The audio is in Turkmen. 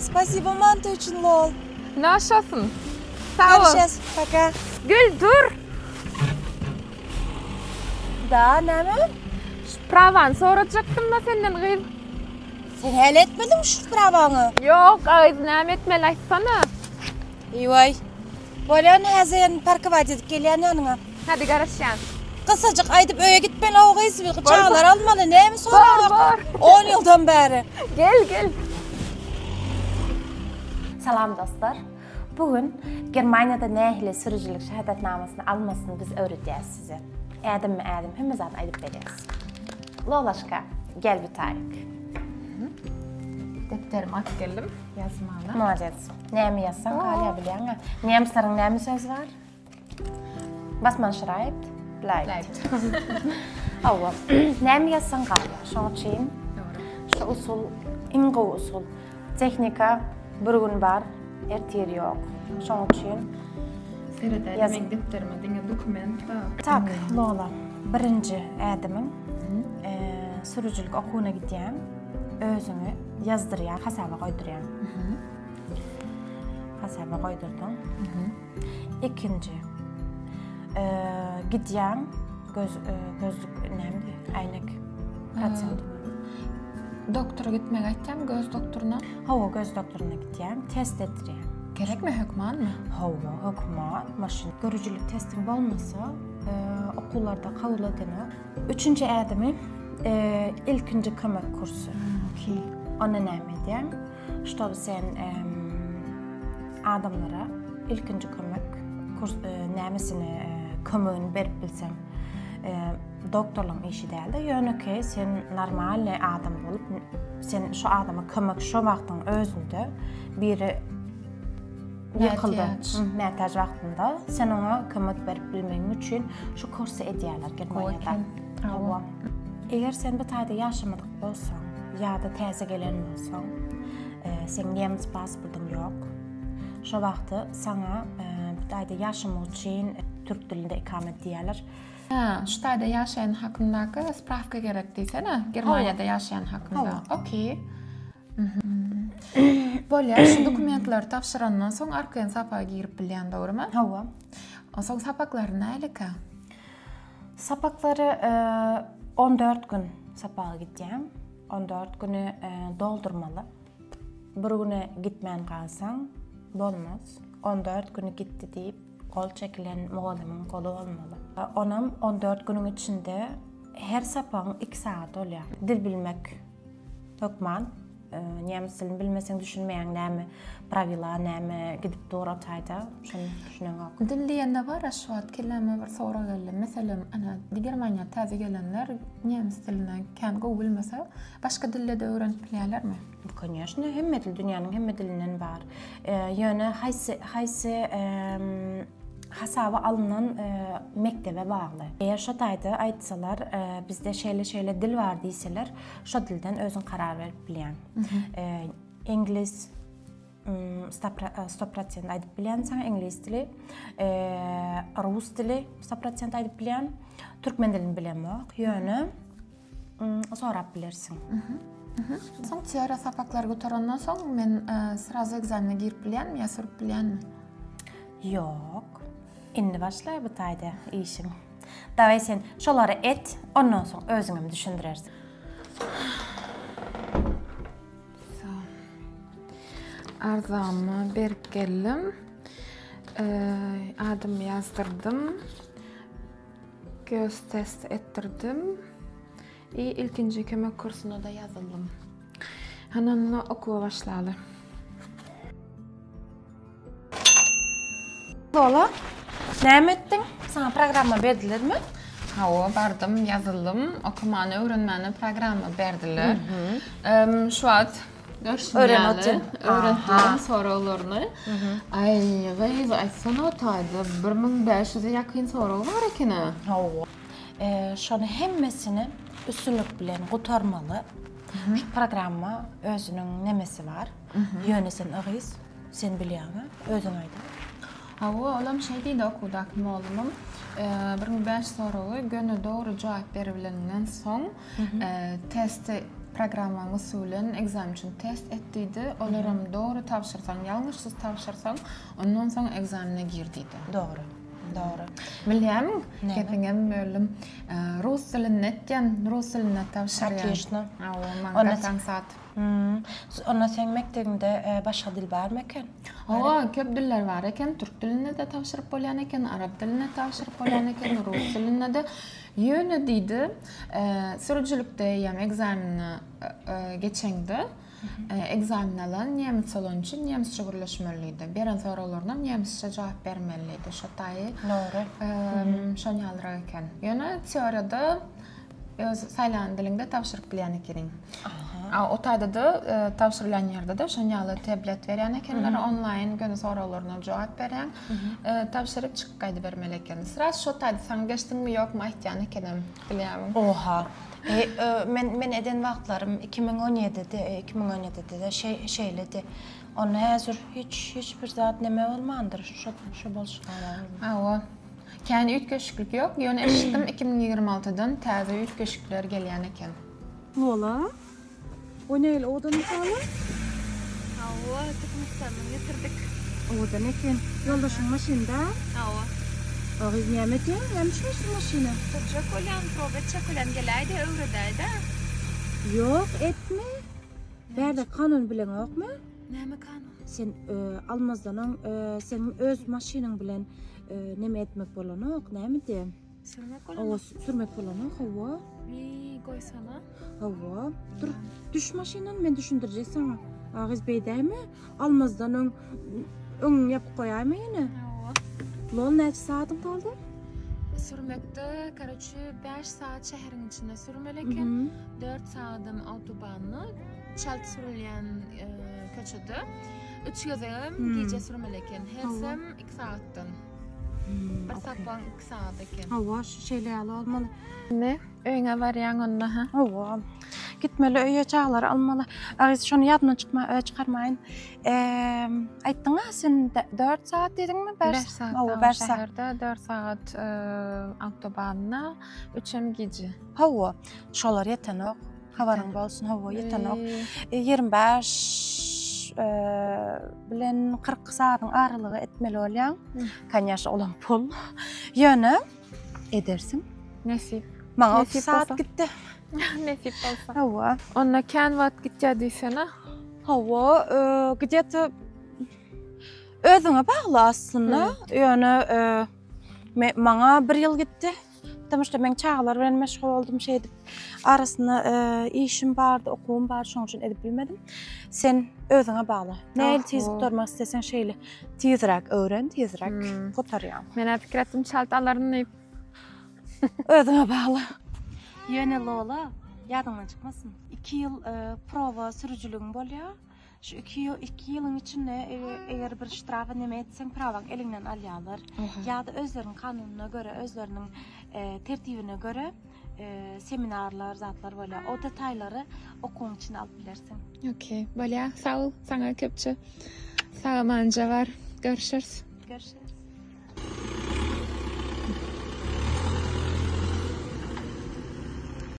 Spasibo manta üçin lol. Naşasyn. Sag bol. Görüşes. Paka. Gel dur. Da näme? Şu prawany sorajakdym-da senden gyz. Sen häli etmediňmi şu prawaňy? Ýok, a gyz näme etmeli aýtsana. Eýwaý. Bolýa indi häzir parkować edip gelýän ýanyňa. Hadi garaşýan. Gysajyk aýdyp öýe gitmeli o gyz bir çagalar almaly näme soraglar on ýyldan bäri. Gel gel. Salam dostlar. Bu gün Germaniýada nähili sürüjilik şahadatnamasyny almasyny biz öwredýäs size. Ädimmi ädim hemme zady aýdyp berýäs. Lolaşka gel bir taýyk. Depderimi alyp geldim ýazmaly. Molades. Näme ýazsaň galýar bilýäňä. Nemislerin näme söz bar? Was man schreibt, bleibt. Hawa. Näme ýazsaň galýar. Şoň üçin şu usul iň gowy usul. Tehnika bir gün bar, ertir ýok. Şoň üçin Seredäýdim meň depderime diňe dokument bar. Tak, Lola. Birinji ädimiň sürüjilik okuwyna gidýän. Özüňi ýazdyrýar, hasaba goýdurýar. Hasaba goýdurdyň. Ikinji. Gidýän göz gözlük näme? Äýnek. Protsent. Doktora gitmek aýtýam, göz doktoryna. Hawa, göz doktoryna gitýän, test etdirýän. Gerekmi hökmanmy? Hawa, hökman. Maşyn görüjilik testiň bolmasa, okuwlarda kabul edilmez. Üçünji ädimi ilkinji kömek kursy. Okey. Onda näme edýäň? Ştoby sen adamlara ilkinji kömek kurs nämisini kömegini berip bilseň. Doktorlaryň işi däldi. Ýönekeý sen normalny adam bolup, sen şu adama kömek şu wagtyň özünde biri Mätäç. Mätäç wagtynda sen oňa kömek berip bilmegiň üçin şu kursy edýärler Germaniýada. Hawa. Eger sen bu taýda ýaşamadyk bolsaň ýa-da täze gelen bolsaň, seň nemes pasportyň ýok. Şo wagty saňa bu taýda ýaşamak üçin türk dilinde ikamet diýýärler. Hä, şu taýda ýaşaýan hakyndaky sprawka gerek diýsene, Germaniýada ýaşaýan hakynda. Okey. Bolýar, şu dokumentleri tabşyrandan soň arkaýyn sapaga girip bilýän, dogrymy? Hawa. Onsoň sapaklary nälekä? Sapaklary 14 e, gün sapaga gidýän. 14 güni e, doldurmaly. Bir güne gitmän galsaň bolmaz. 14 güni gitdi diýip gol çekilen mugallymyň goly bolmaly. E, onam 14 günüň içinde her sapagyň 2 sagat bolýar. Dil bilmek Hökman nemes dilini bilmeseň düşünmeýäň näme prawila näme gidip dur otaýda şony düşüneňok. Dil diýende bar şu wagt kelläme bir sorag geldi. Meselem ana Germaniýa täze gelenler nemes dilini kän gowy bilmese başga dilde de öwrenip bilýärlermi? Konýaşne hemme dil dünýäniň hemme dilinden bar. Ýöne haýsy haýsy hasaba alnan mekdebe bagly. Eger şo taýda aýtsalar, bizde şeýle-şeýle dil bar diýseler, şo dilden özüň karar berip bilýän. Iňlis 100% aýdyp bilýän sen iňlis dili, rus dili 100% aýdyp bilýän, türkmen dilini bilemok. Ýöne sorap bilersiň. Soň teoriýa sapaklary gutaranydan soň men e, srazu ekzamene girip bilýänmi ýa sürüp bilýänmi? Ýok. Indi başla bu taýda işiň. Daway sen şolary et, ondan soň özüň hem düşündirersiň. Arzamy berip geldim. E, adymy ýazdyrdım. Göz test etdirdim. I ilkinji kömek kursuna-da ýazyldym. Hany onda okuwa başlaly. Lola, näme etdiň? Saňa programma berdilermi? Hawa, bardym, ýazyldym. Okamany, öwrenmäni programma berdiler. Şu wagt Görşüň ýaly, öwretilen soraglaryny. Aý, gyz, aýtsana, taýda bir müň bäş ýüze ýakyn sorag bar ekeni. Hawa. Şonuň hemmesini üstünlik bilen gutarmaly. Şu programma özüniň nemesi bar. Ýöne sen yzgyz, sen bilýäňmi? Özüň aýda. Hawa, olam şeý diýdi okuwdaky mollumam. Bir müň bäş ýüz soragy göni dogry jogap beribilenden soň, Testi programmaň usulen ekzamen üçin test et diýdi. Olaram dogry tabşyrsaň, ýalňyşsyz tabşyrsaň, ondan soň ekzamene gir diýdi. Dogry. Dogry. Bilýämiň, gepiňem böldüm. Rus dilinde et diýen, rus dilinde tabşyr diýen. Otlýuçno. Hawa, maňa gaty aňsat. Onda seň mekdebiňde başga dil barmy eken? Hawa, köp diller bar eken. Türk dilinde-de tabşyryp bolýan eken, arap dilinde tabşyryp bolýan eken, rus dilinde-de. Ýöne diýdi, sürüjilikde eýýäm ekzameni geçeňde, ekzameni alan nemes bolany üçin nemesçe gürleşmelidiýdi. Beren soraglarynam nemesçe jogap bermelidiýdi. Şo taýy Dogry. Şony ýalyrak eken. Ýöne teoriýada öz saýlan diliňde tabşyryp bilýän ekeniň. A o taýda-da tabşyrylýan ýerde-de şony ýaly tablet berýän ekenler, onlaýyn göni soraglaryna jogap berýäň. Tabşyryk çykyp gaýdybermeli ekeni. Sraz şo taýda saňa geçdiňmi ýokmy aýtýan ekenem, bilýämiň. Oha. Men men eden wagtlarym iki müň on ýedide, iki müň on ýedide-de şeý şeýledi. Onda häzir hiç hiç bir zat neme bolmandyr, şo şo bolşy gabaw. Hawa. Kän üýtgeşiklik ýok, ýöne eşitdim iki müň ýigrimi altydan täze üýtgeşikler gelýän eken. Wala. O neýli owadan ýaly? Hawa, Türkmenistanyň getirdik. Owadan eken. Ýoldaşyň maşynda? Hawa. O gyz näme eken? Näme üçin şu maşyna? Sürjek bolýan, proba etjek bolýan geläýdi, öwredäýdä. Ýok, etme. Bärde kanun bileňokmy? Näme kanun? Sen almazdan öň, seň öz maşynyň bilen näme etmek bolanok, nämedi? Sürmek bolany. Hawa, sürmek bolany. Hawa. Bi goýsana. Hawa. Dur. Düş maşyndan men düşündirje sana. Agyz beýdämi? Almazdan öň öň ýapyp goýaýmy ýene? Hawa. Lol näçe saatyň galdy? Sürmekde, karaçy 5 saat şäheriň içinde sürmeli eken. 4 saatdan autobanny çalt sürülýän e, köçede. 3 gezegem gije sürmeli eken. Hersem 2 saatdan. Hmm, bir sapan Sada eken. Hawa şu şeýle ýaly bolmaly. Indi öýüňe barýaň onda ha. Hawa. Gitmeli öýe çagalary almaly. Agyz şony ýadymdan çykma çykarmaýyn. Eee aýtdyňa sen 4 sagat diýdiňmi? 5 sagat. Hawa 5 sagat. Şäherde 4 sagat awtobanda, üçem gije. Hawa. Şolar ýetenok. Habaryň bolsun. Hawa ýetenok. 25 bilen 40 sagadyň aralygy etmeli bolýaň. Kanyaşa olam pul. Yöne edersin. Nesip. Maňa Nesip otuz saat bolsa. gitdi. Nesip bolsa. Hawa. Onda kän wagt gitýär diýsene. Hawa, e, gidýete özüňe bagly aslynda. Ýöne e, me- maňa bir ýyl gitdi. Tutumy işte men çagalar bilen meşgul oldum şey edip arasında e, işim bardı, okuwum bardı şonuň üçin edip bilmedim. Sen özüňe bagly. Näil tiz Oho. gutarmak istesen şeyle tizräk öwren, tizräk Hmm. gutarýaň. Men hep pikir etdim çalt alaryn diýip. Özüňe bagly. Ýöne Lola ýadyňdan çykmasyn. 2 ýyl e, prowa sürüjiligiň bolýar. Şu iki ýyl iki ýylyň içinde eger bir ştrafa neme etseň prawaň eliňden alýarlar ýa-da özleriniň kanunyna görä özleriniň e, tertibine görä e, seminarlar zatlar bolýar o detaýlary okuwyň içine alyp bilersiň okey bolýar sag bol saňa köpçe sagamanja bar görüşürüz görüşürüz